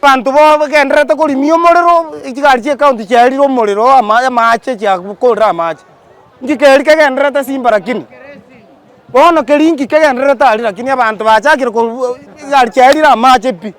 Abanto bagendererete korimia omorero, chigari chie county chiarire omorero amache amache chiakorire amache. Inki keria kegendererete simba lakini? Bono keria inki kegendererete aria lakini abanto bachakire korwa chigari chiarire amache pi.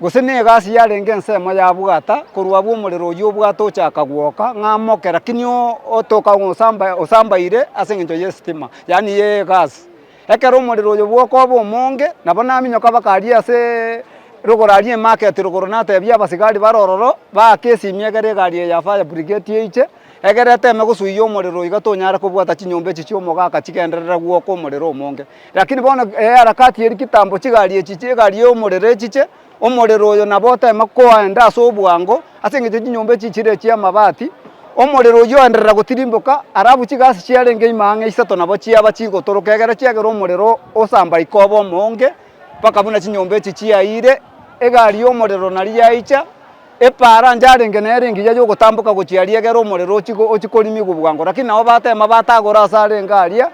Gose negasi yarenge ensemo ya bwata, korwa abwo omorero oyio obwata ochaka gwoka, ng'a moke lakini otoka ng'a osamba osambaire ase engencho y'esitima, yaani y'egasi. Ekero omorero oyo bwoka obe omonge, nabo naminyoka mpaka aria asee rogoro aria emarket rogoro natebia abasigari bare ororo, baake esimi egere egari eye ya fire brigade eiche, Egere eteme gosuiyia omorero iga tonyare kobwata chinyomba echi chi'omogaka chigenderere gwoka omorero omonge. Lakini bono eharakati eri kitambo chigari echi chi'egari y'omorero echiche, omorero oyo nabo oteme koenda ase obwango ase engencho chinyomba echi chire echi'amabati, omorero oyio oenderera gotirimboka alafu chigasi chiarenge ime ang'e isato nabo chiaba chigotoroka egere chiagera omorero osamba ikoba omoonge mpaka buna chinyomba echi chiayire, egari y'omorero nario yaicha. Eparanja arenge nere engiya y'ogotamboka gochia aria egere omorero ochie ochie korimigwa obwango, lakini nabo batema batagora ase arenge aria,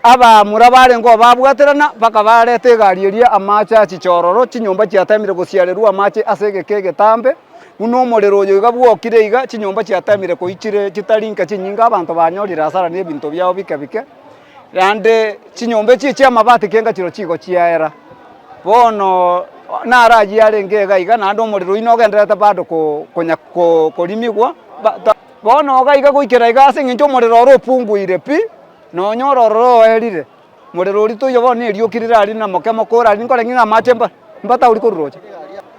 abaamura barenge obabwaterana, mpaka bareta egari eria amache a chichororo, chinyomba chiatemire gosiarerwa amache ase egeka egetambe, buna omorero oyo iga bwokire iga, chinyomba chiatemire koichire chitari nka chinyinga, abanto banyorire asara na ebinto biabo bike bike. Naende chinyomba echio chi'amabati kenga chirobia chigo chiaera. Bono naro ayio arenge iga iga naende omorero oyio nogendererete bado konya korimigwa. Bono iga iga goikera iga ase eng'encho omorero oro opunguire pi, nonya ororo oerire, morero oria toiyo bono nerioki rire aria na moke moke orari nkore ng'a amache mbatauri korwa roche.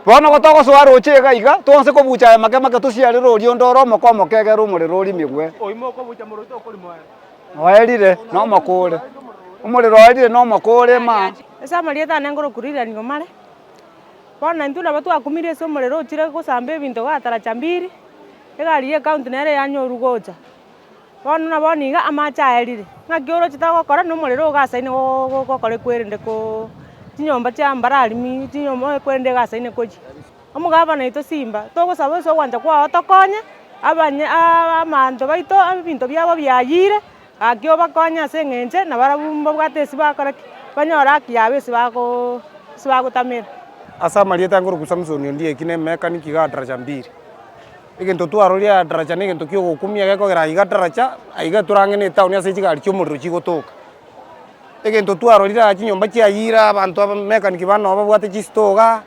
Bono igo togosoa roche iga iga, toanse kobucha aye make make tosiarere oria onde ore omoke omoke egere omorero orimigwe. Oerire nomokoore. Omorero oerire nomokoore ma. Ase amarieta ane ngorokurirania omare. Bono intwe nabo twakumirie ase omorero ochire gosamba ebinto igaa taracha mbiri, egari ye county nere yanyorwa gocha. Bono na bono iga amache aerire. Ng'aki orochete gokora na omorero ogasaine gokora ekwerende ko chinyomba chia mbararimi, chinyomba ekwerende egasaine kochia. Omogabaa naito Simba, togosaba ase ogwancha kwao otokonye, abanye aa abanto baito ebinto biabo biayire, gaki obakonye ase eng'enche nabarabwo mbabwate esi bakora ki, banyore haki yabo ase bagoo ase bagotamera. Ase amarieta nkoruku Samsoni Ondieki eki nemeka niki iga daraja mbiri. Egento twaroria aya daraja negento kiogokumia gekogera aiga daraja aiga eturange ne etown ase chigari chiomorero chigotoka. egento twarorire aa chinyomba chia ayira abanto aba mechanic bane nabo babwate chisitoo iga,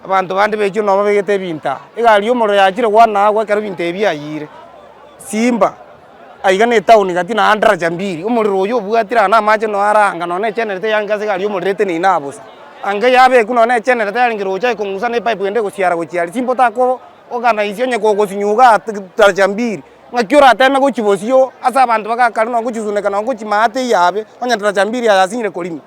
abanto bande bechire nabo babegete ebinto aa. Egari ya omorero yachire goana agwo ekero ebinto ebi biayire, simba aiga na etown gati naende daraja mbili, omorero oyio obwatire aa na amache noyo are anga nonya na egenereta eyarenge ase egari ya omorero eteneine aa bosa. Anga yabekwa nonya na egenereta yarenge roche aye kong'usa na epipe ende egosiara gochia aria, simba otagokwo organise onye kogosinyoka aa daraja mbili. Ng'aki orateeme gochibosio oo ase abanto bagakare na ogochisuneka na ogochimaa teiyo abe, onye tatacha mbiri yaye asing'ire korima?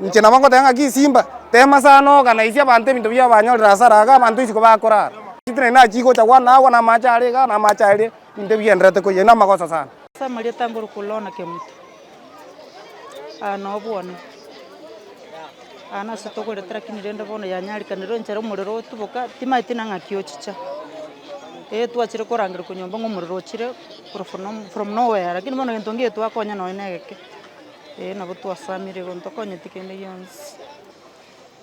Inche nabo ngoteba ng'aki isimba, teema sana ogana isia abanto ebinto biabo banyorire hasara iga abanto isiko bakorara. Ase naende nachia gocha kwana agwo namaache are igaa, namaache aria, ebinto ebi bigendererete koyia, namagoso sana. Ase amarieta ngoroka Lona Kemuto. Aa nobwana, aa nase togorete lakini rende bono yanyarikanire oinchera omorero otuboka, timanyeti buna ng'aki ochicha. Ee twachire korangerekwa nyomba ng'a omorero ochire korwa for no- from no where lakini bono egento nkeiyo twakonya nonya na egeke. Ee nabo twasamire igo ntokonyeti kende gionsi.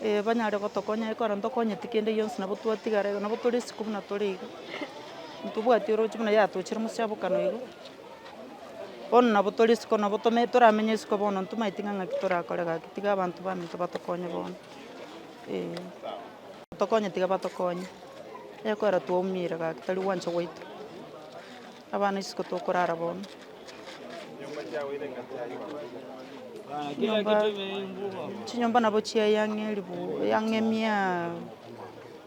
Ee banyare gotokonya aye kore ntokonyeti kende gionsi nabo twatigara iga, nabo tore isiko buna tore iga, ntobwati oroche buna yatochire mosiabokano iga. Bono nabo tore isiko nabo tome toramenye isiko bono ntomaeti ng'a ng'aki torakore gaki tiga abanto baminto batokonye bono, eh. Batokonye tiga batokonye, onye kwera twaumire gaki tari gwancha gwaito, abana isiko tokorara bono. Chinyomba, chinyomba nabo chiayang'erigwe yang'emiaa.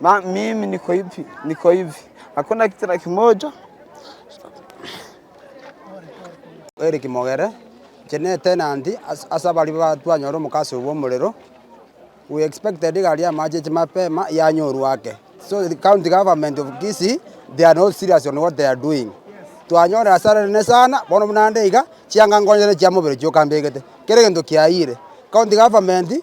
na mimi niko hivi, niko hivi, hakuna kitu hata kimoja. ere kimogere inche ne tenanti as- ase abaria ba- twanyora omokasa oyo bw'omorero we expected iga aria amache ache mapema yanyorwa ake so the county government of kisii they are not serious on what they are doing twanyora hasara nene sana bono buna nde iga chianga nkonyete chia mobere chioka mbegete kera egento kiayire county government.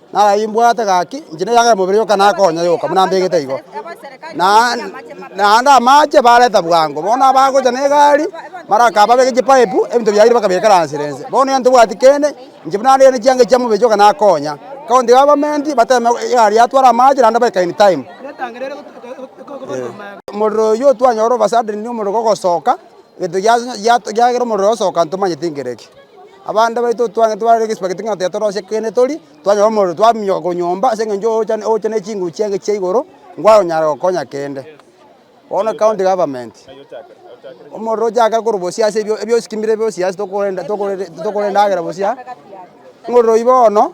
Naragie mbwate gaki, inche neyagere mobere yoka nakonya yoka, buna mbegete igo. Na naende amache bareta bwango, bono abagocha negari, mara aka babeke chipaip, ebinto biaye bakabikeransera ense. Bono egento tobwati kende, inche buna nere chianga chia mobere yoka nakonya. County government bateme egari yatware amache naende baikae in time. Omorero oyio otwanyora over suddenly omorero kogosoka, egento giato giagera omorero osoka ntomanyeti nkereki. Abande baito twaang'ete bare negesibake gete ng'a tiyatorosia kende torie, twanyora omorero twaminyoka korwa nyomba ase engencho ogocha ogocha ne chinguru chiange chia igoro ngwanyara gokonya kende. Bono county government, omorero ochakere korwa bosie ase ebio ebiosikimire biosi ase tokorenda tokorenda tokorenda endagera bosia, ng'ororo oyio bono.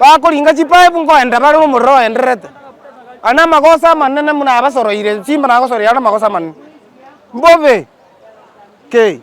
bakoringa chipaip nkoenda bare nomorero oendererete, aye namagoso amanene buna abasoroire simba nagosoroire aro namagoso amanene, mbobe kei.